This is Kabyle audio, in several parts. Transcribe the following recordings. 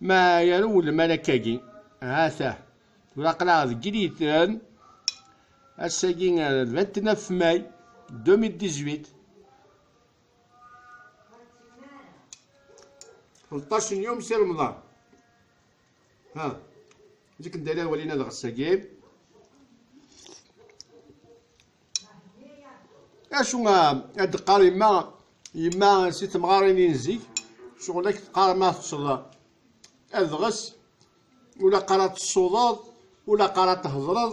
Ma yerwel malak-agi, ha-t-ah, tura aql-aɣ deg Iliten, ass-agi le 29 mai 2018, ṭṭac n yum si Remḍan, ha, zik n dayla walin ad ɣessagi, acu ad d-qqar yemma yemma si temɣarin i nzik ccɣel ak teqqar ma teṭṭseḍ adɣes ula qqar ad tessuḍeḍ ula qqar ad thedreḍ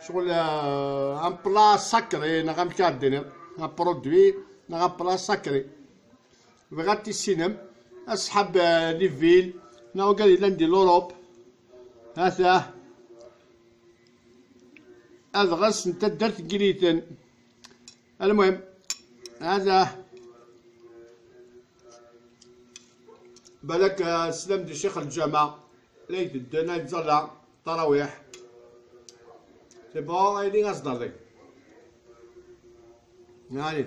ccɣel un plat sacré neɣ amek ad d-tiniḍ un produit neɣ un plat sacré bɣiɣ ad tissinem asḥab li vil neɣ ugar yellan di l'Europe هذا adɣes n taddart n Yiniten. Almuhim, hada balak slam di Cheikh Ljama la itedden ay ẓalla tarawiḥ. C'est bon, ay di as dardi. Allez.